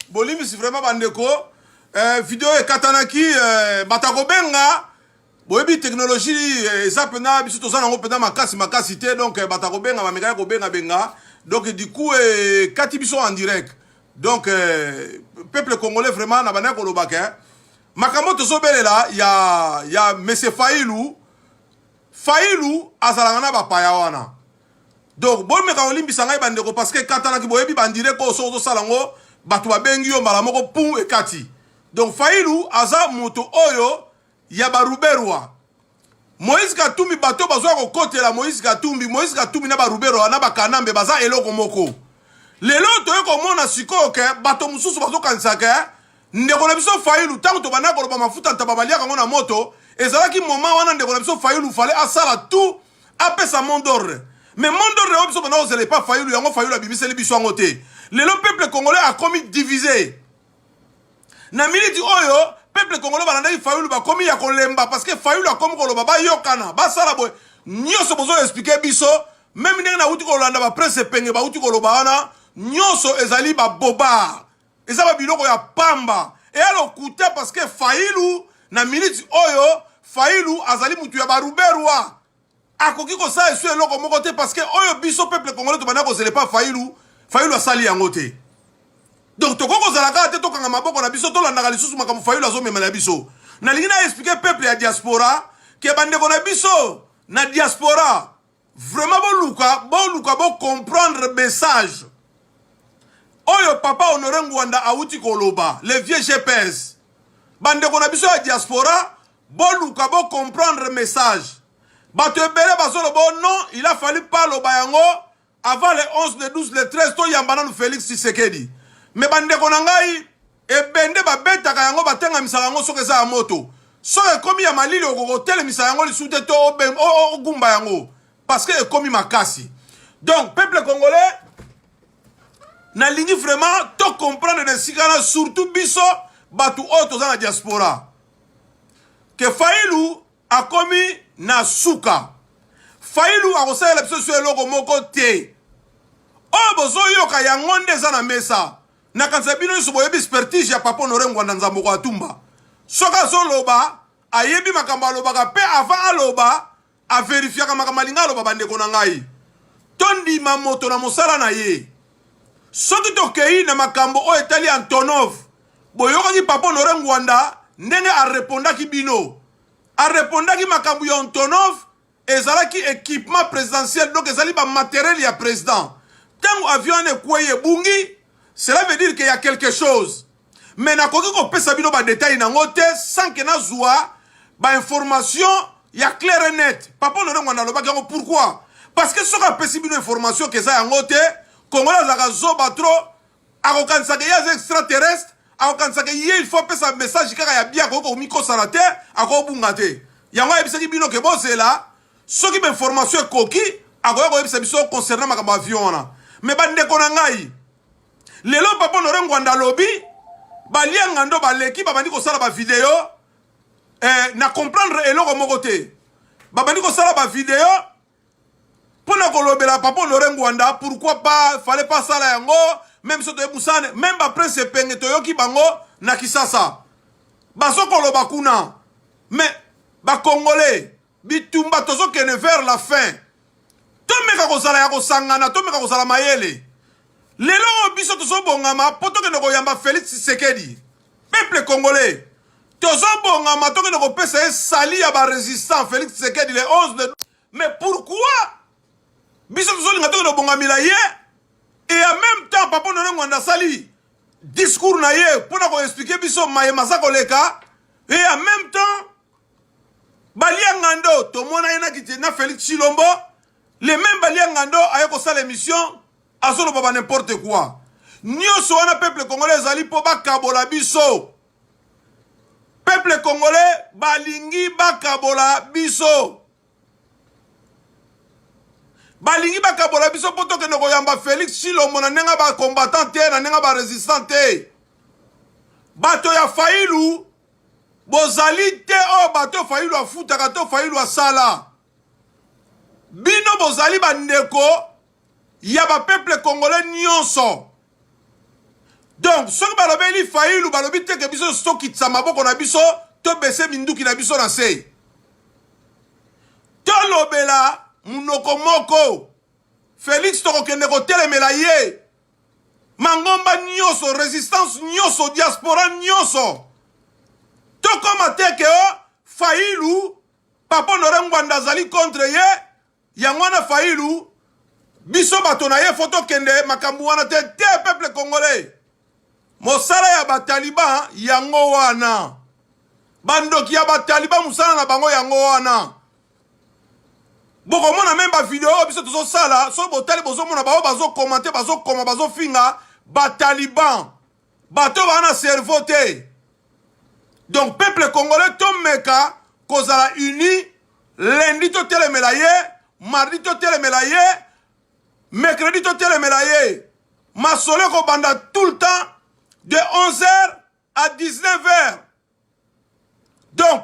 bolimbisi vraiment bandeko eh, video ekatanaki eh, bata kobenga boyebi teknologie eh, eza mpena biso toza nango mpena makasi makasi te donc eh, bata kobenga bamekaki kobengabenga donc du coup ekati eh, biso en direct donc eh, peuple congolais vraiment na bandaki kolobaka eh, makambo tozobelela ya, ya monsieur failu failu azalaka na bapaya wana donc bomeka kolimbisa ngai bandeko parce que ekatanaki boyebi bandire ko soki ozosala yango bato babengi yo mbala moko pum ekati donc failu aza moto oyo ya baruberwa moïse katumbi bato bazoya kokotela moïse katumbi moïse katumbi na baruberwa na bakanambe baza eloko moko lelo toye komona sikoyo ke bato mosusu bazokanisa ke ndeko na biso failu ntango tobandaki koloba mafuta ntaba baliaka yango na moto ezalaki moma wana ndeko na biso failu fale asala tout apesa mot d'ordre mais mot d'ordre oyo biso banda kozela epa fayulu yango fayulu abimiseli biso yango te lelo peuple congolais akomi divise na miniti oyo peuple congolais balandaki fayulu bakomi ya kolemba parce que fayulu akomi koloba bayokana basala boye nyonso bozo explike biso meme ndenge nauti kolanda bapresse epenge bauti koloba wana nyonso ezali babobar eza ba biloko ya pamba eya lokuta parce que Fayulu na minute oyo Fayulu azali mutu ya baruberwa akoki kosala esu eloko moko te parce que oyo biso peuple congolais tobanda kozela epa Fayulu Fayulu asali yango te donc tokoki kozala kaka te tokanga maboko na biso tolandaka lisusu makambo Fayulu azomemela biso nalingi na explike peuple ya diaspora ke bandeko na biso na diaspora Vraiment boluka boluka bo comprendre message oyo papa Honore Ngwanda awuti koloba le vieux GPS. Bandeko na biso ya diaspora boluka bo comprendre message. Bato ebele bazoloba oh non, il a fallu pas loba yango avant le 11, le 12, le 13 toyamba nanu Felix Tshisekedi. Mais bandeko na ngai Ebende babetaka yango, batengamisaka yango soki eza ya moto. Soki ekomi ya malili, okoki kotelemisa yango lisusu te to ogumba yango parce que ekomi makasi. Donc peuple congolais nalingi vraiment to comprendre na esika na surtout biso bato oyo toza na diaspora ke failu akomi na suka failu akosalela biso so eloko moko te oyo bozoyoka yango nde eza na mesa Nakanisa bino nyonso boyebi spertige ya Papa Honore Ngwanda Nzamboko Atumba. Soki azoloba, ayebi makambo alobaka mpe avant aloba, averifiaka makambo alinga aloba bandeko na ngai. Tondima moto na mosala na ye. Soki tokei na makambo oyo etali Antonov, boyokaki Papa Honore Ngwanda ndenge arepondaki bino. Arepondaki makambo ya Antonov ezalaki equipement presidentiel donc ezali ba matériel ya president tango avion wana ekwei ebungi cela veut dire que ya quelque chose mais nakoki kopesa bino ba détails nango te sans que nazua ba information ya claire net papa lorengo nalobaki yango pourquoi parce que soki apesi bino information keza yango te congolais azalaka zoba trop akokanisaka ye aza extraterrestre akokanisaka ye il faut apesa message kaka ya bien akoki komikosana te akobunga te yango ayebisaki bino ke bozela soki bainformation ekoki akoya koyebisa biso concernant makambo avion wana me bandeko na ngai lelo papa honore ngwanda alobi balianga ndo baleki babandi kosala bavideo eh, na comprendre eloko moko te babandi kosala bavideo Pona kolobela papa Honore Ngwanda pourquoi pas fallait pas sala yango même biso toye musane même ba prince epenge toyoki bango na Kisasa bazokoloba kuna mais ba congolais bitumba tozokende vers la fin tomeka kozala ya kosangana tomeka kozala mayele lelo oyo biso tozobongama mpo tokende koyamba Felix Tshisekedi peuple congolais Tozobongama tokende kopesa ye sali ya ba resistant Felix Tshisekedi le 11 de mais pourquoi biso tozolinga tokende kobongamela ye et en même temps papa Honore Ngwanda asali discours na ye mpo na koexplike biso maye maza koleka et en même temps balia ngando tomona ye na kiti na Felix Chilombo le même balia ngando aye kosala émission azoloba ba n'importe quoi nyonso wana peuple congolais ezali mpo bakabola biso Peuple congolais balingi bakabola biso. Balingi bakabola biso mpo tokende koyamba Felix Chilombo na ndenge ba combattant te na ndenge ba resistant te. Bato ya Fayulu bozali te oyo bato Fayulu afutaka to Fayulu asala. bino bozali bandeko ya ba peuple congolais nyonso donc soki balobeli failu balobi te ke biso tokitisa maboko na biso tobese minduki na biso na se tolobela monoko moko felix tokokende kotelemela ye mangomba nyonso resistance nyonso diaspora nyonso tokoma te ke o oh, failu Papa Honore Ngwanda azali contre ye, yango wana Fayilu biso bato na ye fo tokende makambo wana te te peuple congolais mosala ya bataliban yango wana bandoki ya bataliban mosala na bango yango wana bokomona meme bavideo oyo biso tozosala soki botali bozomona baoyo bazokomante bazokoma bazofinga bataliban bato baa na cerveau te donc peuple congolais tomeka kozala uni lundi totelemela ye mardi totelemela ye mercredi totelemela ye masolo ekobanda tout le temps de 11 heures à 19 heures donc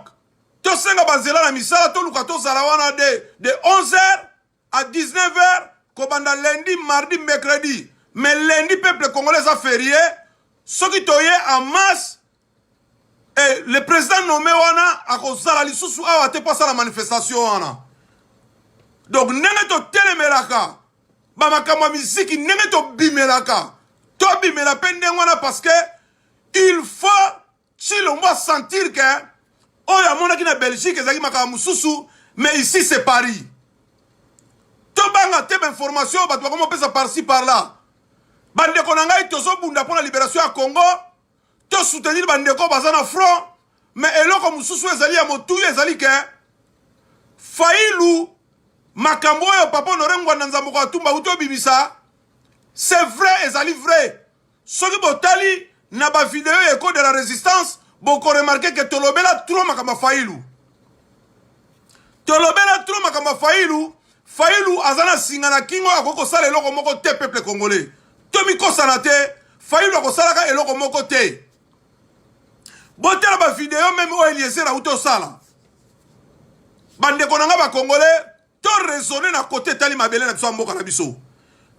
tosenga banzela na misala toluka tozala wana de, de 11 heures A 19 heures kobanda lundi, mardi, mercredi. Mais lundi peuple congolais eza ferie. Soki toye en masse et le président nommé wana akozala lisusu awa te mpo asala manifestation wana. Donc ndenge totelemelaka bamakambo ya miziki ndenge tobimelaka tobimela mpe ndenge wana parce que il faut Tshilombo a sentir que oyo amonaki na Belgique ezalaki makambo mosusu mais ici c'est Paris. Tobanga te bainformation bato bakoma opesa par-ci par-là. Bandeko na ngai tozobunda mpo na liberation ya Congo, tosoutenir bandeko baza na front, mais eloko mosusu ezali ya motuya ezali ke Fayulu makambo oyo papa honore ngwanda nzambo koatumba uti obimisa c'est vrai ezali vrai soki botali na ba video ya ecole de la resistance boko remarquer que tolobela trop makambo ya fayilu tolobela trop makambo ya fayilu fayilu aza na singa na kingo akoki kosala eloko moko te peuple congolais tomikosana te fayilu akosalaka eloko moko te botala bavideo meme oyo eliezer auti osala bandeko na ngai bacongolais To raisonner na cote etali mabele na biso ya mboka na biso.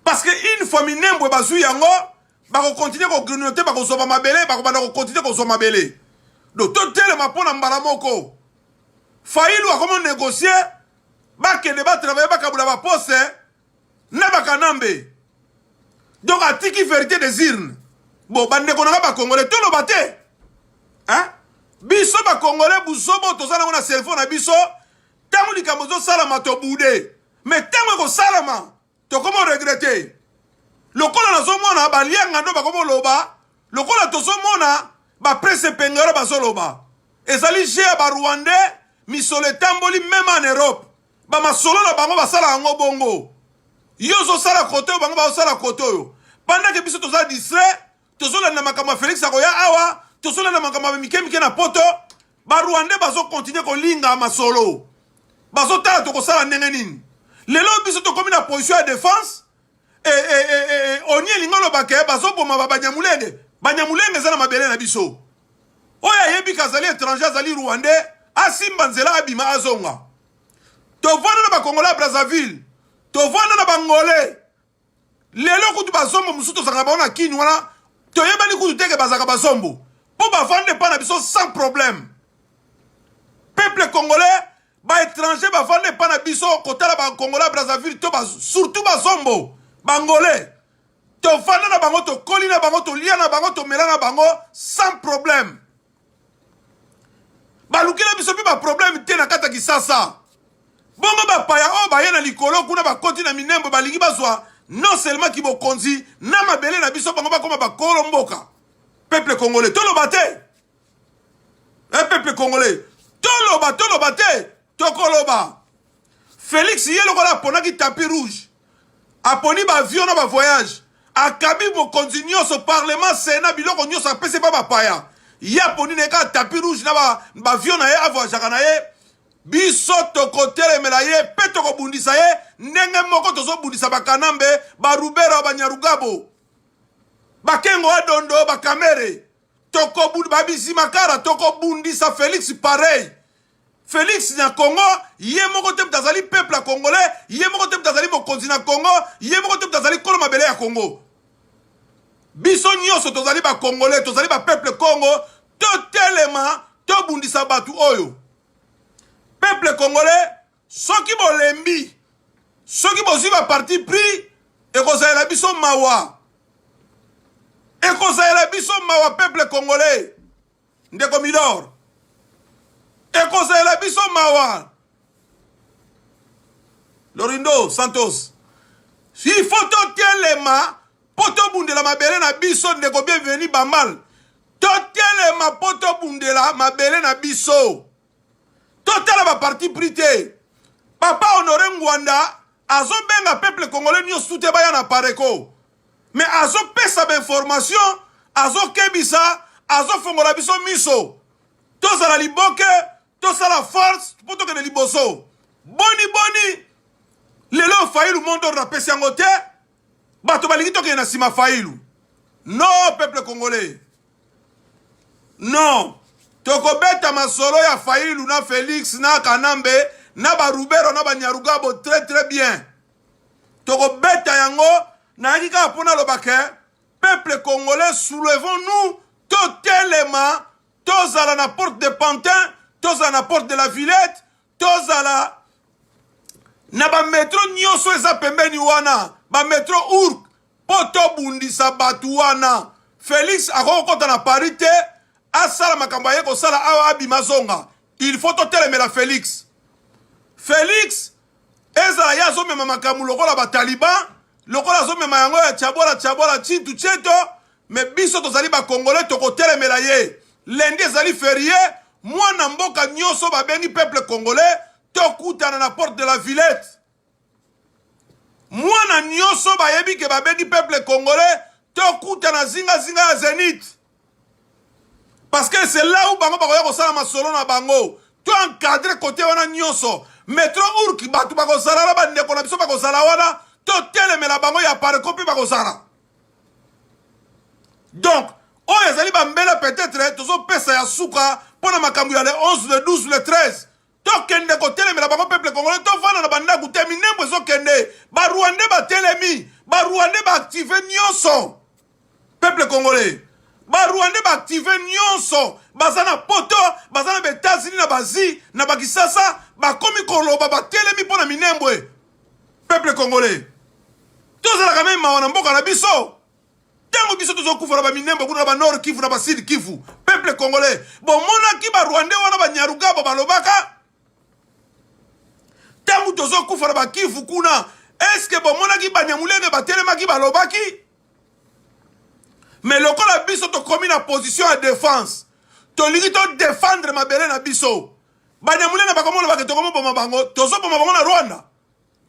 Parce que une fois Minembwe bazui yango, bako continuer ko grignoter, bako zwa ba mabele, bako banda ko continuer ko zwa mabele. Donc to telema mpo na mbala moko. Fayulu akomo négocier, bakende ba travailler, bakabula ba poste na bakanambe. Donc atiki verité des urnes. Bon, bandeko na nga bakongole, toloba te. Hein? biso bakongole buzobo toza nango na cerveau na biso ntango likambo ezosalama tobude me ntango ekosalama tokomo regrete lokola nazomona balianga ndo bakomoloba lokola tozomona baprese pengero bazoloba ezali je ya barwandais misolo etamboli meme en europe bamasolo na bango basala yango bongo yo ozosala kote oyo bango bazosala kote oyo pandake biso toza distrait tozolanda makambo ya felix akoya awa tozolanda makambo ya mike mike na poto barwandais bazokontinue kolinga masolo bazotala tokosala ndenge nini lelo biso tokomi na position ya defense e, e, e, e, e oni elingi oloba ke bazoboma babanyamulenge banyamulenge eza na mabele na biso oyo ayebi ke azali étranger azali rwandais asimba nzela abima azonga tovanda na bakongolais ya brazzaville tovanda na bangolais lelo kutu bazombo mosusu tozalaka bango na kini wana toyebani kutu teke bazalaka bazombo mpo bavandi epai na biso sans problème peuple congolais baétranger bavandi epai na biso kotala bacongolais ya brazzaville to surtout bazombo bangolais tovanda na bango tokoli na bango tolia na bango tomela na bango sans problème balukela biso mpe baprobleme te na kati ya kisasa bongo bapaya oyo baye na likolo kuna bakoti na minembo balingi bazwa non seulement kibokonzi na mabele na biso bango bakoma bakolo mboka peuple congolais toloba te e eh, peuple congolais toloba toloba te tokoloba felix ye lokola aponaki tapi rouge Aponi ba avions na ba voyages. Akabi mokonzi nionso, parlement, senat, biloko nionso apesi epa ba paya. Ye aponi na ye kaka tapis rouge na ba avions na ye a voyageaka na ye. Biso tokotelemela ye pe tokobundisa ye ndenge moko tozobundisa ba Kanambe, ba Ruberwa, ba Nyarugabo, ba Kengo wa Dondo, ba Kamere, ba Bizimakara. Tokobundisa Felix pareil Felix na Congo ye moko te moto azali peuple ya congolais ye moko te moto azali mokonzi na Congo ye moko te moto azali kolo mabele ya Congo biso nyonso tozali ba congolais tozali ba peuple Congo totelema tobundisa bato oyo peuple congolais soki bolembi soki bozwi ba parti pris ekozalela biso mawa ekozalela biso mawa peuple congolais ndeko milor ekosalela biso mawa lorindo santos il faut totelema mpo tobundela mabele na biso ndeko bienveni bamal totelema mpo tobundela mabele na biso totala baparti pris te papa honore ngwanda azobenga peuple congolais nyonso te baya na pareko Mais azo pesa ba information, azo kebisa, azo fongola biso miso. Tozala liboke, tosala force mpo tokende liboso. Boni boni lelo Fayulu Mondor na pesi yango te, bato balingi tokende na nsima Fayulu. Non peuple congolais. Non. tokobeta masolo ya failu na felix na kanambe na barubero na banyarugabo très très bien tokobeta yango nayaki kaka mpo naloba ke peuple congolais soulevons nous totelema tozala na porte de pantin tozala na porte de la villette tozala na bametro nyonso eza pembeni wana bametro urk mpo tobundisa bato wana. Felix akoki kokota na Paris te, asala makambo aye kosala awa, abima azonga. Il faut totelemela Felix. Felix ezala ye azomema makambo lokola bataliban, lokola azomema yango ya chabola chabola chintu cheto, me biso tozali bakongole tokotelemela ye. Lendi ezali ferie, mwana mboka nyonso babengi peuple congolais tokutana na porte de la Villette. Mwana nyoso bayebi ke babengi peuple congolais tokutana zinga zinga ya Zenith. Parce que c'est là où bango bakoya kosala masolo na bango. To encadrer côté wana nyoso. Metro Urk bato bakozala na bandeko na biso bakozala wana totelemela bango ya parco mpe bakozala. Donc oyo ezali bambela peut-être tozopesa ya suka mpo na makambo ya le 11 le 12 le 13 tokende kotelemela bango peuple congolais tovanda na bandako te minembo ezokende barwande batelemi barwande baactive nyonso peuple congolais barwande baactive nyonso baza na poto baza na baetats-unis na bazi na bakisasa bakomi koloba batelemi mpo na minembwe peuple congolais tozalaka meme mawa na mboka na biso ntango biso tozokufa na baminembo kuna na banord kivu na basud kivu peuple congolais bomonaki barwandais wana banyarugabo balobaka ntango tozokufa na bakivu kuna eske bomonaki banyamulenge batelemaki balobaki me lokola biso tokomi na position ya defense tolingi todefendre mabele na biso banyamulenge bakomona bake tokomoboma bango tozoboma bango na rwanda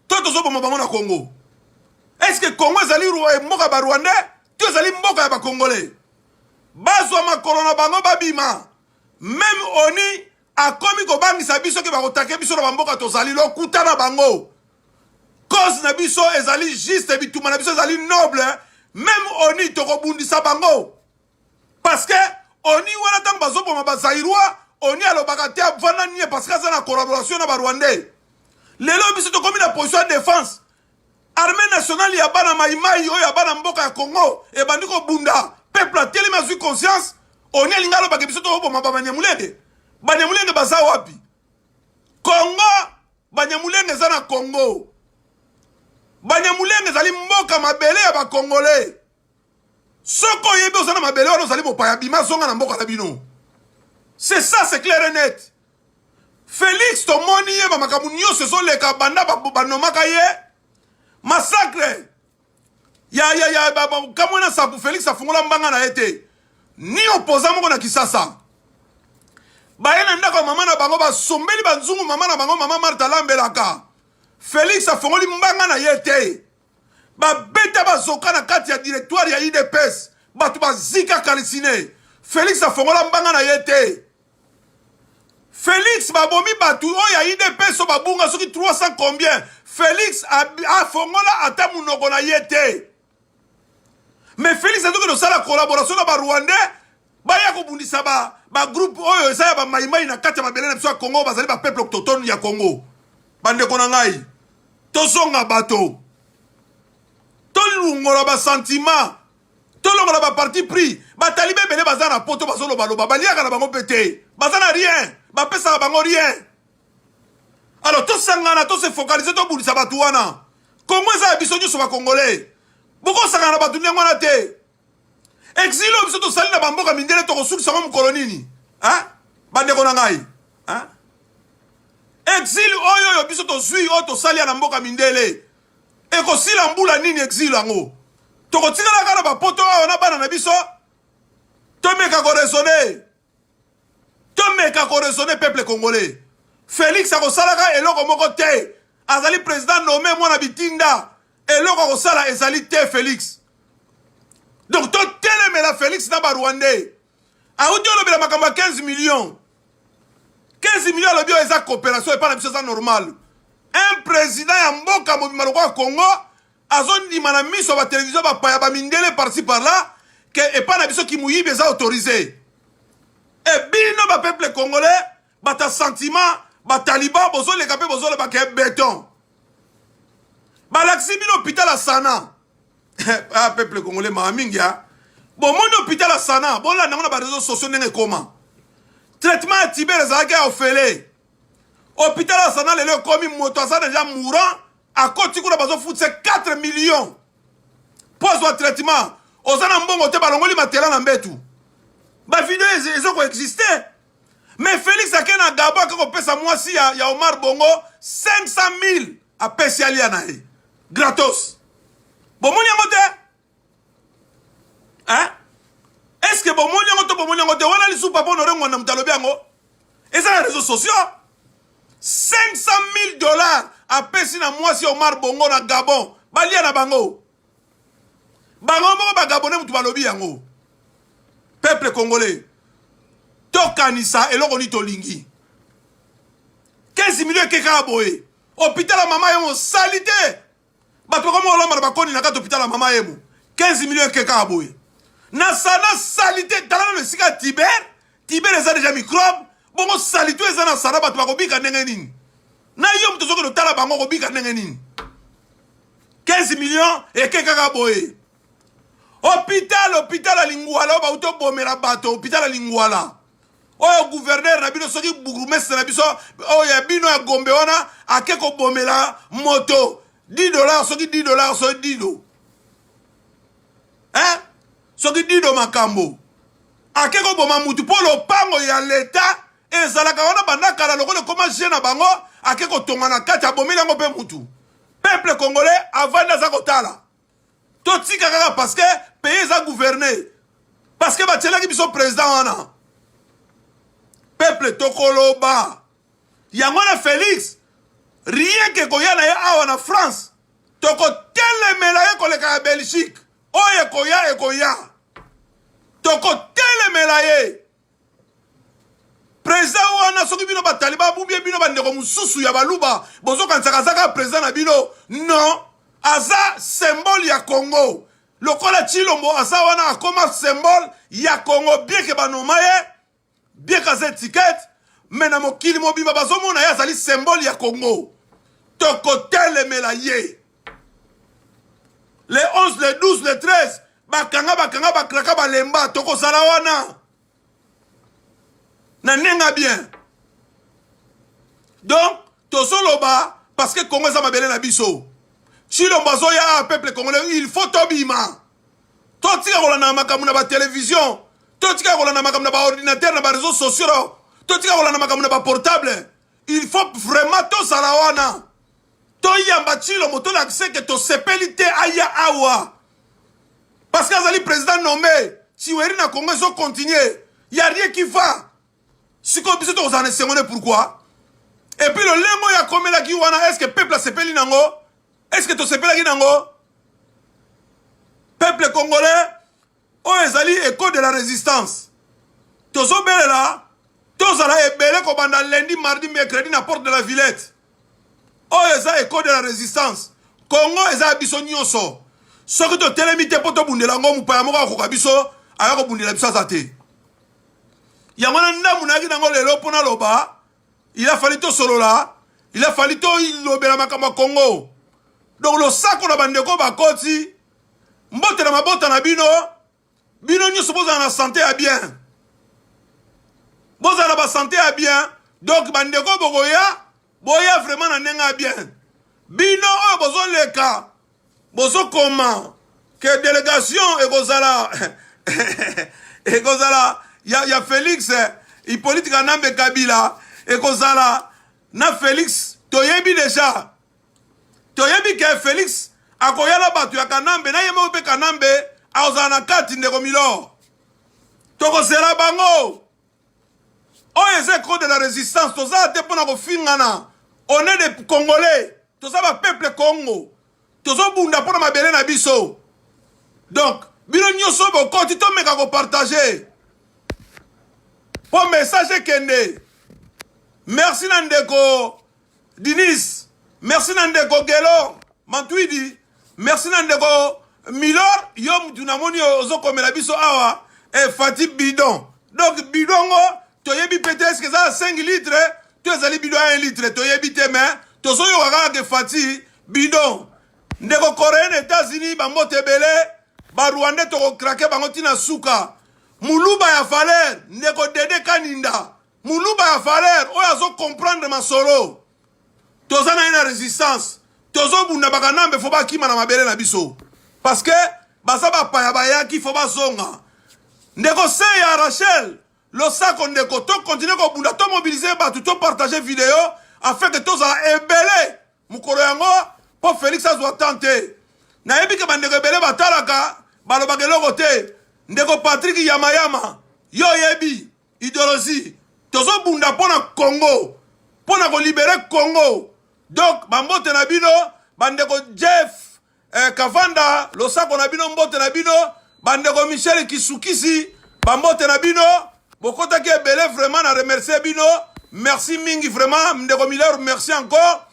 to tozoboma bango na congo eske congo ezali eh, mboka ba rwandais to ezali mboka ya bakongole bazwa makolo na bango babima meme oni akomi kobangisa biso ke bakotake biso na bamboka tozali lokuta na bango cause na biso ezali juste bitumba na biso ezali noble meme oni tokobundisa bango Parce que oni wana ntango bazoboma bazairois oni alobaka te avanda nie parce que aza na collaboration na barwandais lelo biso tokomi na position ya défense armée nationale ya bana maimai oyo ya bana mboka ya congo ebandi kobunda peuple atelemi azwi conscience oni alingi alobaka biso toboma babanyamulenge banyamulenge baza wapi congo banyamulenge eza na congo banyamulenge ezali mboka mabele ya bakongole Soki oyebi oza na mabele wana ozali mopaya, bima zonga na mboka na bino. C'est ça, c'est clair et net. Felix tomoni ye ba makambo nyonso ezoleka banda banomaka ye massacre ya ya ya kamwe na sapu Felix afungola mbanga na ye te ni opposant moko na Kisasa baye na ndako ya mama na bango basombeli banzungu mama na bango mama Martha alambelaka Felix afongoli mbanga na ye te babeta bazoka na kati ya directoire ya udps bato bazika kalisine felix afongola mbanga na ye te felix babomi bato oyo ya udps oyo babunga soki 300 combien felix afongola ata monoko na ye te mais felix azokende kosala collaboration na barwandais baya kobundisa ba ba groupe oyo eza ya ba maimai na kati ya mabele na biso ya Congo bazali ba peuple autochtone ya Congo bandeko na ngai tozonga bato tolungola ba sentiment tolongola ba parti pris bataliba ebele baza na poto bazolobaloba baliaka na bango mpe te baza na rien bapesaka bango rien alors tosangana tose focalise tobundisa bato wana kongo eza ya biso nyonso bakongole bokosangana na bato ndenge wana te exile oyo biso tosali na bamboka mindele tokosukisa yango mokolo nini bandeko na ngai exile oyo oyo biso tozwi oyo tosali ya na mboka mindele ekosila mbula nini exile yango tokotikala kaka na bapoto awa na bana na biso tomeka koresone tomeka ko raisonner peuple congolais felix akosalaka eloko moko te azali président nommé mwana bitinda eloko akosala ezali te felix donc totelemela felix na barwandais auti olobela makambo ya 15 millions 15 millions alobi oyo eza coopération epai na biso eza normal un président ya mboka mobima lokola congo azondima na miso ya batelevizio bapaya bamindele parci par là ke epai na biso kimuyibi eza autorise e bino bapeuple congolais bato ya sentiment bataliban bozoleka mpe bozoloba ke beton balakisi bino hopital ya sana ah, peuple congolais maa mingi ya bomoni hopital ya sana bolanda yango na bareseau sociaux ndenge ekoma traitement ya tibere ezalaki ya ofele hopital ya sana lelo ekomi moto aza deja mourant akoti kuna bazofutisa 4 millions mpo azwa traitement oza na mbongo te balongoli matela na mbetu bavideo eza koexiste mais félix ake na gabo ake kopesa mwasi ya, ya omar bongo 500 000 apesi alia na ye gratos bomoni yango te hein est ce que bomoni yango to bomoni yango te wana lisu papa honore ngwanda moto alobi yango eza na réseau sociaux 500 000 dollars apesi na mwasi ya omar bongo na gabon balia na bango bango moko bagabone moto balobi yango peuple congolais tokanisa eloko nini tolingi 15 milio eke kaka boye hôpital ya mama yo mosali te bato bakomi kolamba na bakoni na kati hôpital ya mama emo 15 millions eke kaka boye na sana salite tala nano esika ya tiber tiber eza deja microbe bongo salite oyo eza na sana bato bakobika ndenge nini na yo moto ozokende otala bango okobika ndenge nini 15 millions eke kaka boye hopital hopital ya lingwala oyo bauti obomela bato hopital ya lingwala oyo guverner na bino soki bourgmestre na biso oyo ya bino ya gombe wana ake kobomela moto 10 dollar soki 10 dollar soki dido eh? soki dido makambo ake koboma motu mpo lopango ya leta ezalaka wana banda kala lokola ekoma je na bango ake kotonga na kati abomeli yango mpe motu peuple congolais avandi aza kotala totika kaka parce que pays eza gouverne parce que batielaki biso président wana peuple tokoloba yango na félix rien ke koya na ye awa na france tokotelemela ye koleka ya belgique oyo ekoya ekoya tokotelemela ye President wana soki bino bataliba abubie bino bandeko mosusu ya baluba bozokanisaka aza kaka president na bino non aza symbole ya congo lokola chilombo aza wana akoma symbole ya congo bien ke banoma ye bien kaza etikete me na mokili mobimba bazomona ye azali symbole ya congo tokotelemela ye le 11 le 12 le 13 bakanga bakanga bakraka balemba tokozala wana na nenga bien donc tozoloba parce que congo eza mabele na biso chilombo azoya awa ah, peuple congolais il faut tobima totika kolanda makambo na batelevizio totika kolanda makambo na baordinatere na bareseau sociaux totika kolanda makambo na baportable il faut vraiment tozala wana toyamba tshilo moto olakisa ke tosepeli te aya awa parce que azali président nommé tiweri na congo ezo continuer ya rien qui va sikoyo biso tokozala na esengo ne pourquoi epuis lolenge oyo akomelaki wana estce peuple asepeli nango estce tosepelaki nango peuple congolais oyo ezali eco de la resistance tozobelela tozala ebele kobanda lundi mardi mercredi na porte de la villette oyo eza eco de la resistance kongo eza ya biso nyonso soki totelemi te mpo tobundela yango mopaya moko akoka biso aya kobundela biso aza te yango na ndambu nayaki nango lelo mpo naloba il a fallu tosolola il a fallu tolobela makambo ya kongo donc losako na bandeko bakoti mbote na mabota na bino bino nyonso bozala na sante ya bien bozala na basante ya bien donk bandeko bokoya boya vraiment na ndenge ya bien bino oyo bozoleka bozokoma ke delegation ekozala ekozala ya, ya felix hipolite kanambe kabila ekozala na felix toyebi deja toyebi ke felix akoya na bato ya kanambe na ye moko mpe kanambe akozala na kati ndeko milor tokozela bango oyo eza ecro de la résistance toza te mpo na kofingana on est des congolais toza bapeuple congo tozobunda mpo na mabele na biso donc bino nyonso bokoti tomeka kopartage mpo message ekende merci na ndeko Dinis, merci na ndeko Gelo Mantuidi, merci na ndeko Milor, yo mutu namoni ozokomela biso awa e Fati bidon. Donc bidon ngo toyebi pete eske eza 5 litre to ezali bidon ya 1 litre toyebi te mais tozoyoka kaka ke Fati bidon. Ndeko Coreen Etats-Unis bambote ebele ba Rwandais tokokrake bango tina suka. Muluba ya valeur ndeko Dede Kaninda Muluba ya valeur oyo azo comprendre masolo toza na ye na resistance tozobunda bakanambe fo bakima na mabele na biso parce que baza bapaya bayaki fo bazonga ndeko se ya rachel losako ndeko tokontinue kobunda tomobilize bato topartage video afin ke tozala ebele mokolo yango mpo felix azwa temps te nayebi ke bandeko ebele batalaka balobaka eloko te ndeko patrik yamayama yo oyebi Ideologie tozo bunda pona Congo pona ko libere Congo donc ba mbote na bino bandeko Jeff eh, Kavanda losako na bino mbote na bino bandeko Michel Kisukisi ba mbote na bino bokotaki ebele vraiment na remercier bino merci mingi vraiment ndeko Miller merci encore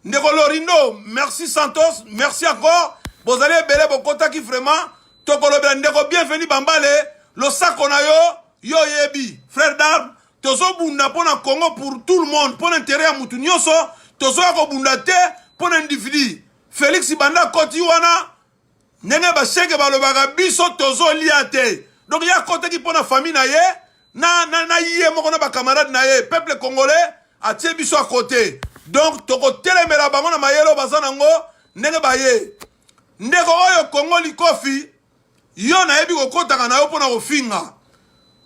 ndeko lorindo merci santos merci encore bozali ebele bokotaki vraiment tokolobela ndeko bienvenu bambale losako na yo yo oyebi frère d'arme tozobunda mpo na congo pour tout le monde mpo na intere ya motu nyonso tozoya kobunda te mpo na individu felix banda koti wana ndenge bashege balobaka biso tozolia te donc ye akotaki mpo na famille na ye na, na, na ye moko na bacamarade na ye peuple congolais atie biso à côté donc tokotelemela bango na mayele oyo baza nango ndenge baye ndeko oyo kongo likofi yo nayebi kokotaka na yo mpo na kofinga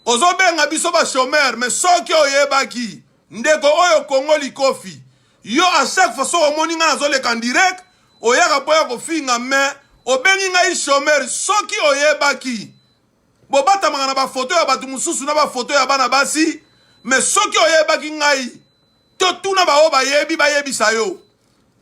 ozobenga biso bachomeur me soki oyebaki ndeko oyo kongo likofi yo a chaque fois soki omoni ngai nazoleka direct oyaka mpo ya kofinga me obengi ngai chomeur soki oyebaki bobatamaka na bafoto ya bato mosusu na bafoto ya bana basi me soki oyebaki ngai totuna baoyo bayebi bayebisa yo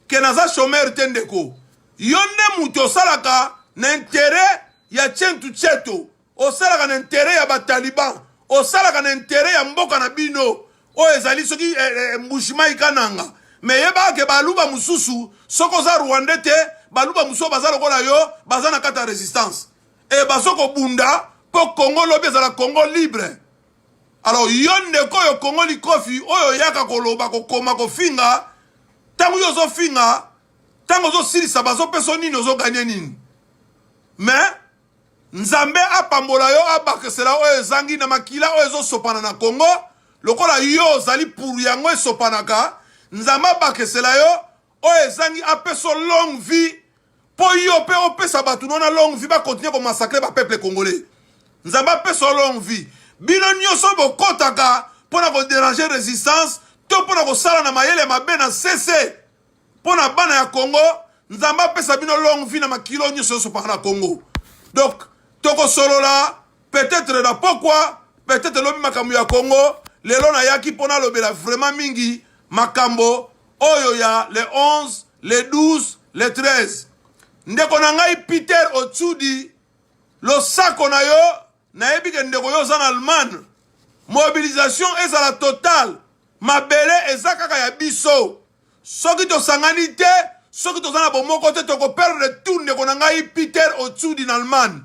ke naza chomeur te ndeko yo nde moto osalaka na intere ya centu ceto osalaka na interet ya bataliban osalaka na interet ya mboka na bino oyo ezali soki eh, eh, eh mbushimai kananga me yebaka ke baluba mosusu soki oza rwande te baluba mosusu baza lokola yo baza na kati ya resistance e bazo kobunda mpo kongo lobi ezala kongo libre alors yo ndeko oyo kongo likofi oyo oyaka koloba kokoma kofinga ntango yo ozofinga ntango ozosilisa bazopesa nini ozoganye nini mais Nzambe apambola yo abakisela oyo ezangi na makila oyo ezosopana na Congo lokola yo ozali pour yango esopanaka Nzambe abakisela yo oyo ezangi apeso longue vie po yo pe opesa bato no na longue vie ba continuer ko massacrer ba peuple congolais Nzambe apeso longue vie bino nioso bokotaka pona ko deranger resistance to pona kosala na mayele mabe na sese Mpo na bana ya Congo, Nzambe apesa bino longue vie na makilo nyonso yosopaka na Congo. Donc, tokosolola peut-être na pokwa, peut-être lobi makambo ya Congo. Lelo nayaki mpo nalobela vraiment mingi makambo oyo ya le 11, le 12, le 13. Ndeko na ngai Peter Otsudi, losako na yo nayebi ke ndeko yo oza na allemagne mobilisation ezala total mabele eza kaka ya biso soki tosangani te soki toza na bomoko te tokoperdre tout ndeko na ngai peter otsudi na allemagne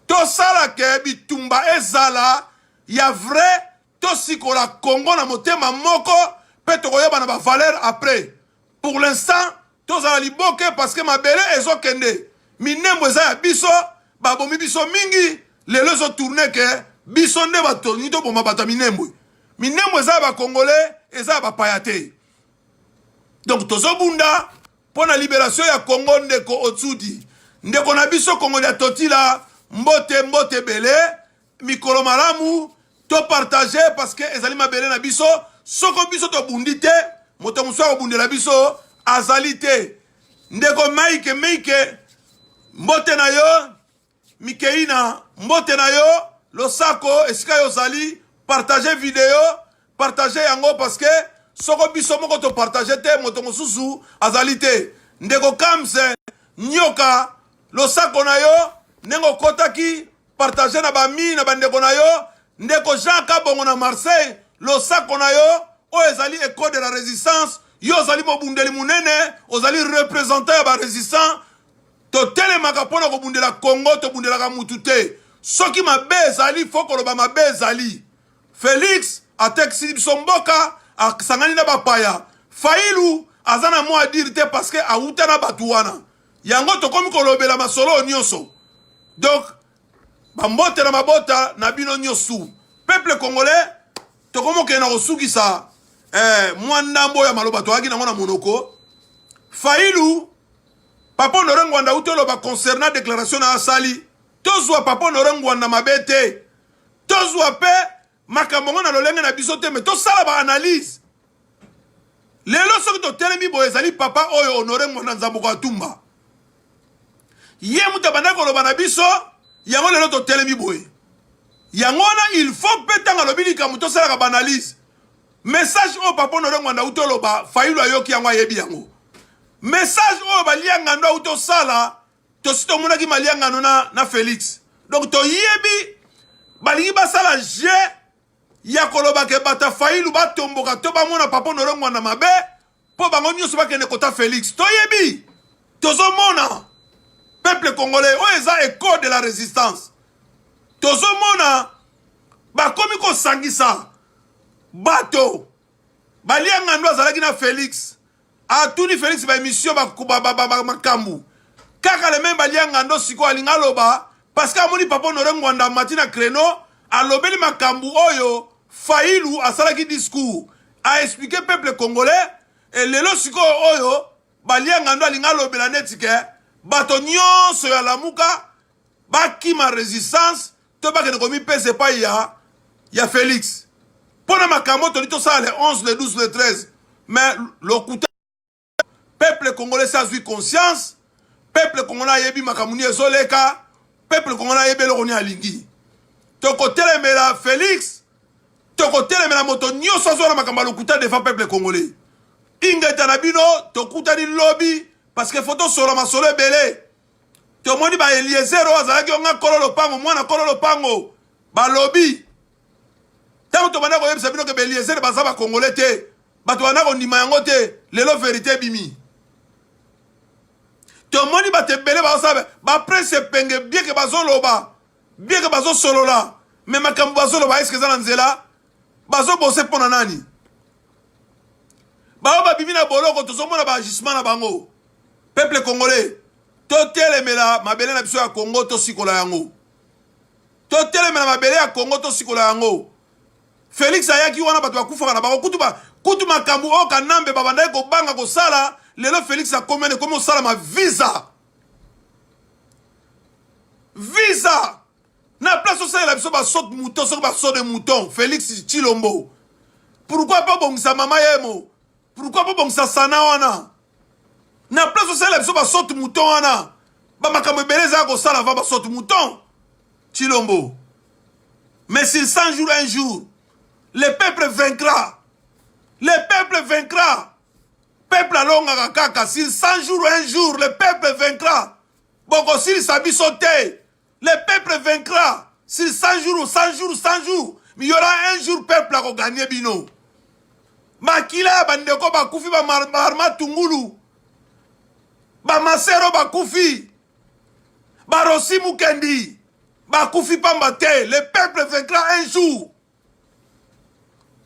tosala ke bitumba ezala ya vrai tosikola congo na motema moko mpe tokoyeba na bavaleur après pour l'instant tozala liboke parce que mabele ezokende minembo eza ya biso babomi biso mingi lelo ezotourne ke biso nde batoni toboma bato ya minembwe minembwe eza ya bakongole eza ya bapaya te donc tozobunda mpo na liberation ya congo ndeko otsudi ndeko na biso kongoli ya totila mbote mbote ebele mikolo malamu to partage parce que ezali mabele na biso soko biso tobundi te moto mosusu akobundela biso azali te ndeko mike mike mbote na yo mikeina mbote na yo losako esika yo ozali partage video partage yango parce que soko biso moko topartage te moto mosusu azali te ndeko kamse nyoka losako na yo ndenge okotaki partage na bami na bandeko na yo ndeko jean kabongo na marseille losako na yo oyo ezali ecole de la résistance yo ozali mobundeli monene ozali représentant ya barésistant totelemaka mpo na kobundela congo tobundelaka mutu te soki mabe ezali fo koloba mabe ezali felix atekisi biso mboka asangani na bapaya failu aza na mwa adire te parceke awuta na bato wana yango tokomi kolobela masolo oyo nyonso donc bambote na mabota na bino nyonso peuple congolais tokomi okende na kosukisa eh, mwa ndambo ya maloba toyaki nango na monoko failu papa honore ngwanda uti oloba concernant déclaration na asali tozwa papa honore ngwanda mabe te tozwa mpe makambo yango na lolenge na biso te me tosala ba analyse lelo soki totelemi boye ezali papa oyo honore mwana nzambuko atumba ye moto abandaki koloba na biso yango lelo totelemi boye yango wana il faut mpe ntango alobi likambo tosalaka baanalyse message oyo papa honore ngwanda auti oloba fayulu ayoki yango ayebi yango message oyo baliangando auti osala tosi tomonaki maliangano na, na felix donc toyebi balingi basala jeu ya koloba ke bato ya failu batomboka to bamona papa nolongwa na mabe mpo bango nyonso bakende kota felix toyebi tozomona peuple congolais oyo eza eco de la résistance tozomona bakomi kosangisa bato Baliangando azalaki na Felix. Atuni Felix ba emission ba makambu. Kaka le même Baliangando siko alinga loba parce que amoni papa Honore Ngwanda amati na créneau alobeli makambu oyo Failu asalaki discours a expliquer peuple congolais et lelo siko oyo Baliangando alinga lobela neti ke bato nyonso ya Lamuka bakima resistance to bakende komipesa epai ya, ya Felix mpo na makambo toli tosala le 11 le 12 le 13 mais lokuta peuple congolais si azwi conscience peuple congolais ayebi makambo nini ezoleka peuple congolais ayebi eloko nini alingi tokotelemela Felix tokotelemela moto nyonso azwa na makambo ya lokuta devant peuple congolais ingeta na bino tokutani lobi parce que faut tosola masolo ebele tomoni ba eliezer oyo azalaki yo nga kolo lopango mwana kolo lopango balobi ntango tobanda koyebisa bino ke ba eliezer baza bakongole te bato banda kondima yango te lelo verite ebimi tomoni bato ebele baosala baprese epenge bieke bazoloba bieke bazosolola me makambo bazoloba eske eza na nzela bazo bose pona nani baoyo babimi na boloko tozomona baagissement na bango peuple congolais totelemela mabele na biso ya congo tosikola yango totelemela mabele ya congo tosikola yango felix ayaki wana bato bakufaka na bango kutu, ba, kutu makambo oyo kanambe babandaki kobanga kosala lelo felix akomi wana ekomi osalama visa visa na place osalela biso basot mouton soki baso de mouton félix chilombo pourquoi pas bongisa mama yemo pourquoi pas bongisa sana wana na place osalela biso basot mouton wana bamakambo ebele ezala kosala va basot mouton chilombo mais sur 100 jours un jour le peuple vaincra le peuple vaincra peuple alongaka kaka sur 100 jours un jour le peuple vaincra bokosilisa biso te Le peuple vaincra sur 100 jours, 100 jours, 100 jours. Mais il y aura un jour peuple ako gagner bino. Makila ya bandeko bakufi ba marma tungulu. Ba masero bakufi. Ba rosi mukendi. Bakufi pamba te. Le peuple vaincra un jour.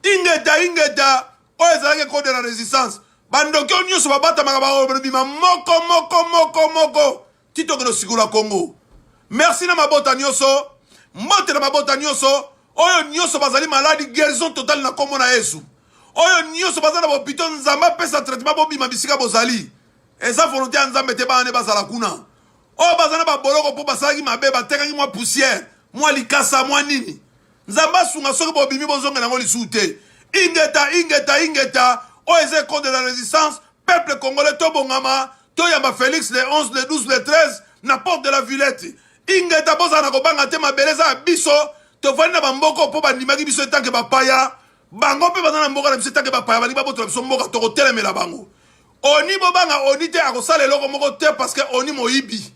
ingeta ingeta oyo ezalaki ecole de la resistance bandoki oyo nyonso babatamaka babima moko moko moko moko titokende osikola kongo merci na mabota nyonso mbote na mabota nyonso oyo nyonso bazali maladi guérison totale na nkombo na yesu oyo nyonso baza na bopito nzambe apesa traitement bobima bisika bozali eza volonté ya nzambe te bana nde bazala kuna oyo baza na baboloko mpo basalaki mabe batekaki mwa poussière mwa likasa mwa nini Nzambe asunga soki bobimi bozonga nango lisusu te. Ingeta ingeta ingeta oyo eza ecole de la resistance peuple congolais tobongama toyamba Felix le 11 le 12 le 13 na porte de la Villette. Ingeta bozala na kobanga te mabele eza ya biso tovandi na bamboko mpo bandimaki biso etanke bapaya bango mpe baza na mboka na biso etanke bapaya balingi babotola biso mboka tokotelemela bango oni bobanga oni te akosala eloko moko te parce que oni moyibi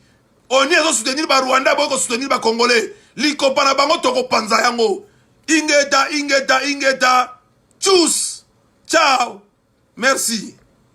oni ezo soutenir ba rwanda boye ko soutenir ba congolais likopa na bango tokopanza yango ingeta ingeta ingeta tchuss ciao merci